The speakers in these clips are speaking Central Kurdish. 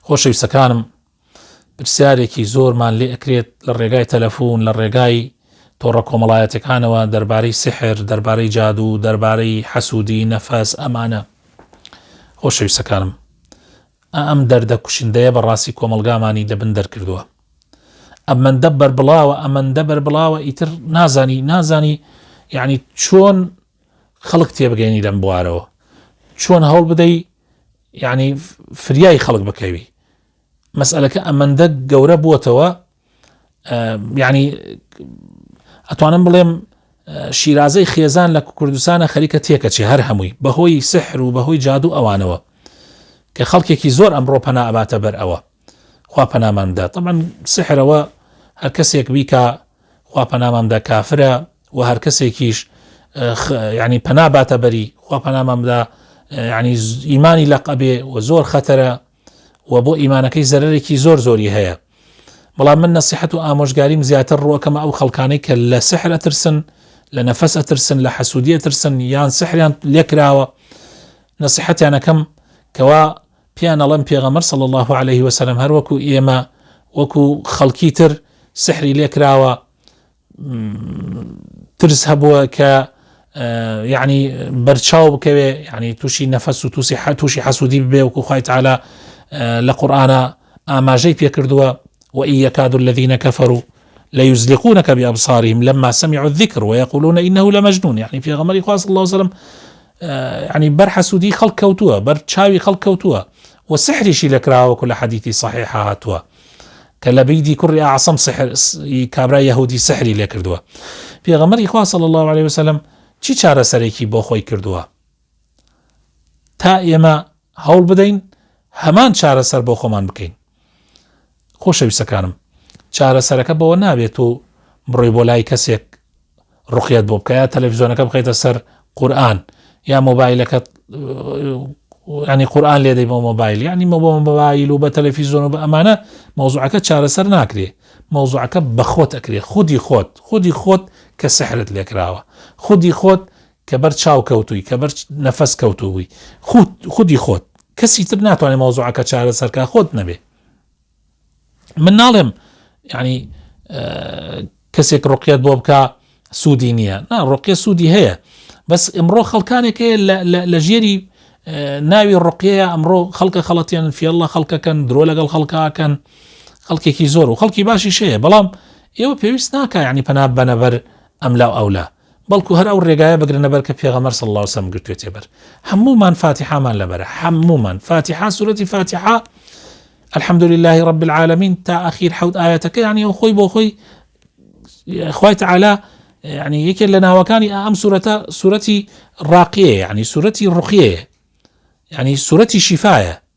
خۆشەویستەکانم پرسیارێکی زۆرمان لێ ئەکرێت لە ڕێگای تەلەفۆن لە ڕێگای تۆڕە کۆمەڵایەتەکانەوە دەربارەی سحر دەربارەی جادو دەربارەی حەسوودی نەفەس ئەمانە خۆشەویستەکانم ئەم دەردە کوشندەیە بە ڕاستی کۆمەلگامانی لەبن دەرکردووە ئەمەندە بەربڵاوە ئەمەندە بەربڵاوە ئیتر نازانی نازانی یعنی چۆن خەڵک تێبگەێنی لەم بوارەوە چۆن هەوڵ بدەی یانی فریای خەڵک بکەوی مەسئلەکە ئەمەندە گەورە بووەتەوە یعنی ئەتوانم بڵێم شیرازەی خێزان لە کوردستانە خەریکە تێکەچێ هەر هەمووی بەهۆی سحر و بەهۆی جادو ئەوانەوە کە خەڵکێکی زۆر ئەمڕۆ پەناباتە بەر ئەوە خوا پەنامان بدات طبعا سحرەوە هەر کەسێک بیکا خوا پەنامان بدا کافرە و هەر کەسێکیش ینی پەنا باتە بەری خوا پەنامان بدا ینی ئیمانی لەق ئەبێ و زۆر خەتەرە و بۆ ئیمانەکەی زەرێکی زۆر زۆری هەیە بەڵام من نەسیحەت و ئامۆژگاریم زیاتر ڕوەکەمە ئەو خەڵکانەی کە لە سحرە ترسن لە نەفەس ئەترسن لە حەسوودیە ترسن یان سحریان لێکراوە نەسیحەتیانەکەم کەوا پێیان ئەڵێم پێغەمبەر صلی اللە علیە وسلم هەر وەکو ئێمە وەکو خەڵکی تر سحری لێ کراوە ترس هەبووە کە یعنی بەرچاو بکەوێ یعنی تووشی نەفەس و تووسی حە تووشی حەسوودی بێ وکو خی تعالا لە قورآە ئاماژەی پێکردووە و ئیەکاد الذيینە کەفەر و لە یوزلیقونەکە بێ ئەبساریم لەما سەمی عذیکر و یقولونە ئینەه لە مەجنون یعنی پێغەمەری خواست الله وسلم یەعنی بەر حەسوودیی خەڵک کەوتووە، بەر چاوی خەڵک کەوتووە و سیحریشی لێ کراوە وەکو لە حەدیسی سەحیحا هاتووە کە لەبیدی کوڕی ئەعسەم سیحر کابرای یەهوودی سیحری لێ کردووە. پێغەمبەری خوا صلی الله علیه وسلم چی چارەسەرێکی بۆ خۆی کردووە تا ئێمە هەوڵ بدەین هەمان چارەسەر بۆ خۆمان بکەین. خۆشەویستەکانم چارەسەرەکە بەوە نابێت و بڕۆی بۆ لای کەسێک ڕقیت بۆ بکە یا تەلەڤزیۆنەکە بخیتە سەر قورآن یا مۆبایلەکە ینی قورآان لێدەی بۆ مۆبایل ینی مە بۆ مۆبایل و بە تەلەفیزۆن و بە ئەمانە مۆزوعەکە چارەسەر ناکرێ مۆزوعەکە بەخۆت ئەکرێ خودی خۆت خودی خۆت کە سەحرت لێکراوە خودی خۆت کە بەر چاو کەوتووی، کە بەر نەفەس کەوتووبووی. خوت، خودی خۆت. کەسی تر ناتوانێ مەوزوعەکە چارەسەر کا خۆت نەبێ. من ناڵێم یانی کەسێک ڕوقیەت بۆ بکا سوودی نییە، نا ڕوقیە سوودی هەیە، بەس ئمڕۆ خەڵکانێک هەیە لە ژێری ناوی ڕوقیەیە ئەمڕۆ خەڵکە خەڵەتێنن فێڵ لە خەڵکەکەن، درۆ لەگەڵ خەڵکا ئەکەن، خەڵکێکی زۆر و خەڵکی باشیش هەیە، بەڵام ئێوە پێویست ناکا یانی پەنا ببەنە بەر ئەملا و ئەولا. بەڵکو هەر ئەو ڕێگایە بگرنە بەر کە پێغەمبەر صلی اللە علیە و سلم گرتوێتێ بەر هەموومان فاتیحامان لەبەرە هەموومان فاتیحا سورەتی فاتیحا الحمد لله رب العالمین تا ئەخیر حەوت ئاەتەکە یعنی ئەو خۆی بۆ خۆی خوای تعالی یعنی یەکێ لە ناوەکانی ئەم سورەتە سورەتی ڕاقیە یعنی سورەتی ڕقیەیە یعنی سورەتی شیفاە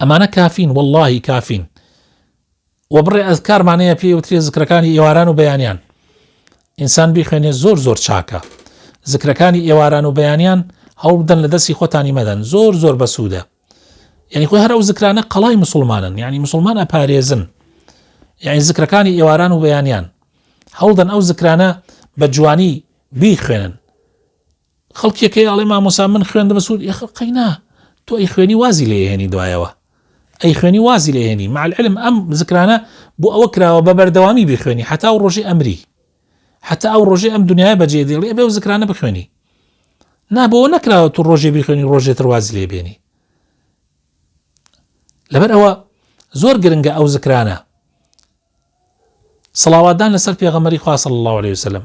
ئەمانە کافین وەڵاهی کافین وە بڕێ ئەزکارمان هەیە پێی وترێ زکرەکانی ئێواران و بەیانیان ئینسان بیخوێنێ زۆر زۆر چاکە زکرەکانی ئێواران و بەیانیان هەوڵ بدەن لە دەستی خۆتانی مەدەن زۆر زۆر بەسوودە یعنی خۆی هەر ئەو زکرانە قەڵای مسلمانن یعنی مسلمان ئەپارێزن یعنی زکرەکانی ئێواران و بەیانیان هەوڵدەن ئەو زکرانە بە جوانی بیخوێنن خەڵکیەکەی ئەڵێ مامۆسا من خوێندمە سوود یخ قەینا تۆ ئەی خوێنی وازی لێ هێنی دوایەوە ئەی خوێنی وازی لێ هێنی مع العلم ئەم زکرانە بۆ ئەوە کراوە بە بەردەوامی بخوێنی حتا و ڕۆژی ئەمری حتا ئەو ڕۆژی ئەم دنیای بەجێ دێڵێ بێ و زکرانە بخوێنی نا بۆ نەکراوە تو ڕۆژێ بخوێنی ڕۆژێ تروازی لێ بێنی لەبەر ئەوە زۆر گرنگە ئەو زکرانە سڵاوادان لەسەر پێغەمەری خواصل الله عليه وسلم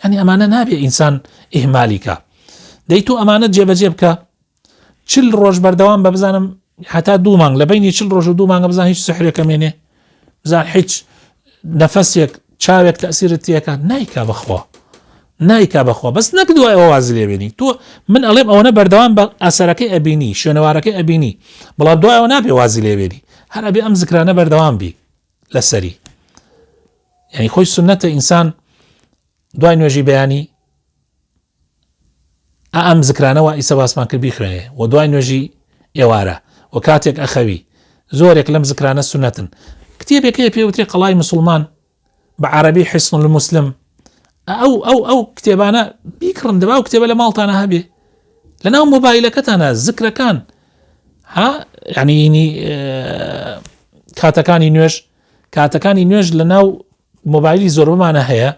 یعنی ئەمانە نابێ ئینسان ئیهمالی کا دەی تۆ ئەمانە جێبەجێ بکە چل ڕۆژ بەردەوام بە بزانم هەتا دوو مانگ لە بینی چل ڕۆژ و دوو مانگە بزان هیچ سحرێکە مێنێ بزان هیچ نەفەسێک چاوێک تەسیرت تێەکە نایکا بخوا نایکا بەخوا بەس نەک دوای ئەوواز لێبێنی تۆ من ئەڵێم ئەوەنە بەردەوام بە ئەسەرەکەی ئەبینی شوێنەوارەکەی ئەبینی بەڵام دوایەوە نابێ وازی لێبێنی هەر ئەبێ ئەم زکرانە بەردەوام بی لەسەری یعنی خۆی سنەتە ئینسان دوای نوێژی بەیانی ئەم زکرانەوە ئیسە باسمان کرد بیخوێنێ و دوای نوێژی ئێوارە و کاتێک ئەخەوی زۆرێک لەم زکرانە سنەتن کتێبێکی پێوتێ قەڵای مسلمان بە عربی حسن المسلم ئە ئەو ئەو ئەو کتێبانە بیکڕن دەبا ئەو کتێبە لە ماڵتانە هەبێ لە ناو مۆبایلەکەتانە زکرەکان ها یعنیینی کاتەکانی نوێژ کاتەکانی نوێژ لە ناو مۆبایلی زۆربمانە هەیە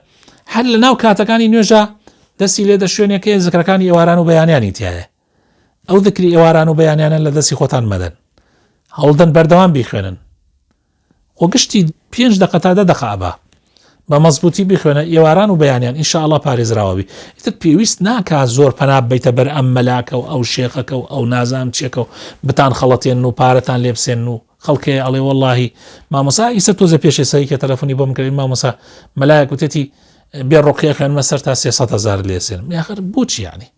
هەر لە ناو کاتەکانی نوێژە دەستی لێدە شوێنێکەیە زکرەکانی ئێواران و بەیانیانی تایە ئەو ذکری ئێواران و بەیانیانە لە دەستی خۆتان مەدەن هەوڵدەن بەردەوام بیخوێنن خۆ گشتی پێنج دقە تا دە دقە ئەبا بە مەزبوطی بخوێنە ئێواران و بەیانیان ئینشاءله پارێزراوەبی ئیتر پێویست ناکە زۆر پەنا بیتە بەر ئەم مەلاکە و ئەو شێخەکە و ئەو نازان چێکە و بتان خەڵەتێن و پارەتان لێبسێن و خەڵکێ ئەڵێ واللهی مامۆسا ئیسە تۆزە پێشێ سەریکە تەلەفۆنی بۆم کردین مامۆسا مەلایە کوتێتی بێ ڕقیە خوێنمە سەر تا سێسە هزار لێسێن یاخر بچیانی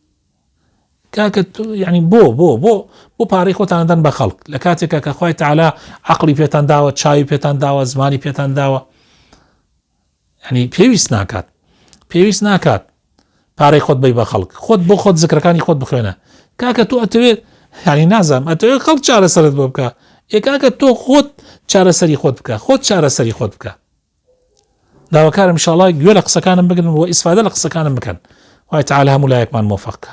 کاکە یعنی بۆ بۆ بۆ بۆ پارەی خۆتان دەن بە خەڵک لە کاتێکا کە خخوای تعالا عقلی پێتان داوە چاوی پێتان داوە زمانی پێتان داوە ینی پێویست ناکات پێویست ناکات پارەی خۆت بی بە خەڵک خۆت بۆ خۆت زکرەکانی خۆت بخوێنە کاکە تۆ ئەتەوێت هەنی نازانم ئەتەوێت خەڵک چارەسەرت بۆ بکە ئێکاکە تۆ خۆت چارەسەری خۆت بکە خۆت چارەسەری خۆت بکە داواکارم ئیشاڵا گوێ لە قسەکانم بگرن و ئیسفادە لە قسەکانم بکەن خوای تەعالا هەموو لایەکمان مۆفەق کا.